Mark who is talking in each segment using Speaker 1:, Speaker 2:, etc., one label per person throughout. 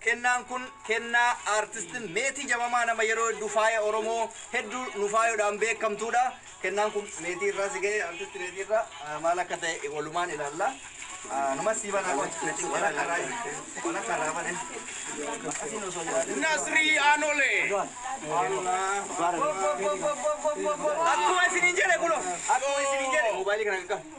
Speaker 1: Kennaan kun kennaa Artist Meetii Jamamaa nama yeroo hedduu faaya Oromoo hedduu nu faayodhaan beekamtuudha. Kennaan kun Meetii irraa si ga'e Artist Meetii irraa maal akka ta'e walumaan ilaalla. Numas sii banaa qoy. Walakka irraa walakka irraa bane. Asiin osoo jiraatee.
Speaker 2: Nasri Anole.
Speaker 1: Akkuma isiniin jedhe kuno. Akkuma isiniin jedhe. Mobaayilii kana qaqqaba.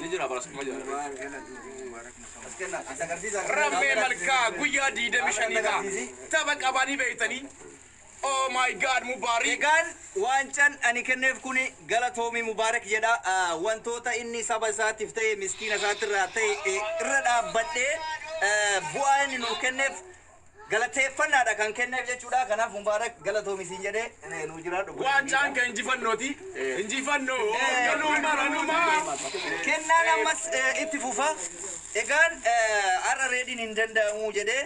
Speaker 2: Ni jira bara suma jira. Rammee malkaa guyyaa 25dha. Tapha qabanii beektanii. Oh my god Mubaarii. Egaan waancan
Speaker 1: ani kenneef kun galatoomi Mubaarak jedha. Ah, Wantoota inni saba isaatiif ta'e miskiina isaatirraa ta'e eh, irra dhaabbadhee eh, bu'aa inni nuuf kenneef galateeffannaadha kan kenneef jechuudha. Kanaaf Mubaarak galatoomi siin jedhee eh, nuu jiraadhu. gola Waancaan miidhaa. kan injifannooti.
Speaker 2: Injifannoo galuu maranumaa.
Speaker 1: Kennaan ammas eh, itti fufa. Egaan eh, har'a reediin hin danda'amu jedhee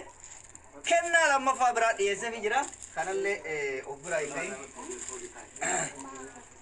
Speaker 1: kennaa lammaffaa biraa dhiyeesseefi jira. Kanallee eh, of biraa hin gahin.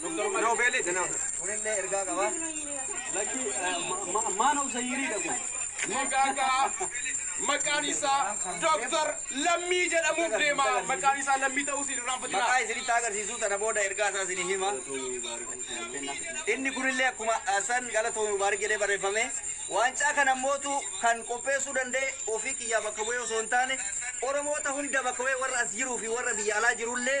Speaker 2: Noobeelii dha nama. Kunillee
Speaker 1: ergaa
Speaker 3: qaba. Lakkii maan of zayirii dha kun. Magaagaa
Speaker 2: maqaan isaa Dooktar Lammii jedhamuuf deema. Maqaan isaa Lammii ta'uu siin irraanfatina. Maqaa isinitti agarsiisuu
Speaker 1: tana booda ergaa isaa isinii hima. Inni kunillee akkuma ah, san galatoomi mubaarik jedhee barreeffame. Waancaa kana mootu kan qopheessuu danda'e ofii kiyyaa bakka bu'ee osoo hin taane Oromoota hunda bakka bu'ee warra as jiruu fi warra biyya alaa jirullee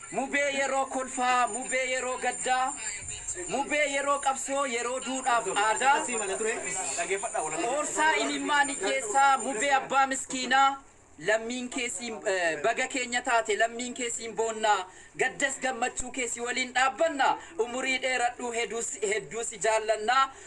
Speaker 4: Mubee yeroo kolfaa Mubee yeroo gaddaa Mubee yeroo qabsoo Yeroo duudhaaf aadaa Qoorsaa imimmaan hiyyeessaa Mubee abbaa miskiinaa Lammiin kee siin Baga keenya taate Lammiin kee siin boonna Gaddas gammachuu kee Si waliin dhaabbanna Umurii dheeradhu Heduu si Hedduu si jaallanna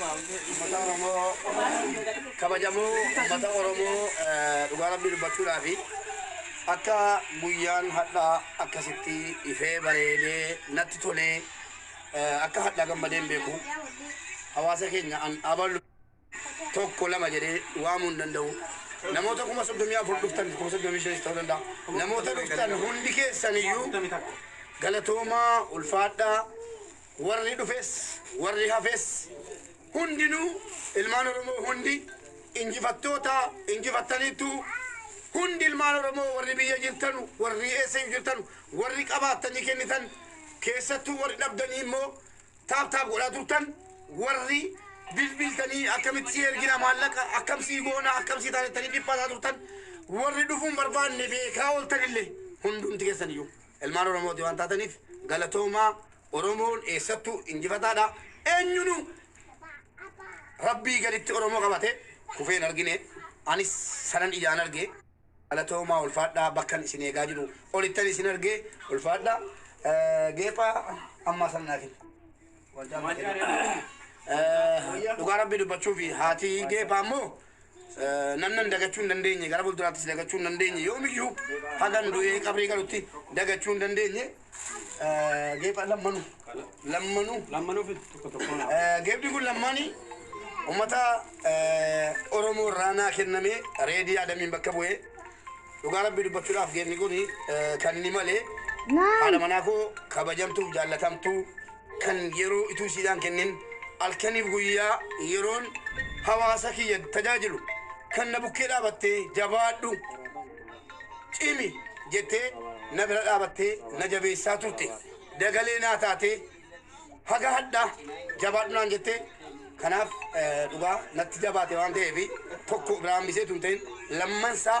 Speaker 3: Ummata Oromoo kabajamoo ummata Oromoo dhugaa rabbii dubbachuudhaafi akka guyyaan hadhaa akkasitti ifee bareedee natti tolee akka hadhaa gammadeen beeku hawaasa keenya an abalu tokko lama jedhee waamuu hin danda'u. Namoota kuma soddomii afur dhuftan kuma soddomii shanis ta'uu danda'a. Namoota dhuftan hundi keessaniyyuu galatoomaa ulfaadhaa Warri dhufes, warri hafes hundinuu, ilmaan Oromoo hundi injifattoota, injifattaniittu. Hundi ilmaan Oromoo warri biyya jirtanu, warri eessayyuu jirtanu, warri qabaattanii kennitan, keessattuu warri dhabdanii immoo taap taap godhaa turtan, warri bilbiltanii akkamitti si ergina maallaqa, akkam sii goona, akkam sii taanettanii dhiphataa turtan, warri dhufuun barbaanne beekaa ooltanillee hundumti keessaniyyuu. Ilmaan Oromooti waan taataniif galatoomaa. Oromoon eessattuu injifataadha. Eenyunuu Rabbii gaditti Oromoo qabate kufee hin argine. Anis sanan ijaan arge. Galatoomaa ulfaadhaa bakkan isin eegaa jiru olittan isin arge ulfaadhaa. Eh, Geepha ammaa sana naa kenna. Wanti amma kenna. Eh, Dhugaa Rabbii dubbachuuf haati geepha ammoo Namnan dagachuu hin dandeenye gara fuulduraattis dagachuu hin dandeenye yoomiyyuu hagan du'ee qabrii galutti dagachuu hin dandeenye geepha lammanu lammanu Lammanuu fi tokko tokkoon hafu. geepni kun lammaanii ummata Oromoo irraa naa kennamee reedii adamiin bakka bu'ee dhugaa rabbii dubbachuudhaaf geepni kun kan inni malee haadha manaa koo kabajamtuuf jaallatamtuu kan yeroo utuu siidaan kennin alkaniif guyyaa yeroon hawaasa kiyya tajaajilu kan na bukkee dhaabattee jabaadhu cimi jettee na bira dhaabattee na jabeessaa turte dagalee naa taatee haga hadhaa jabaadhu naan jettee kanaaf eh, dhugaa natti jabaate waan ta'eef tokko biraan bisee tun ta'in lammansaa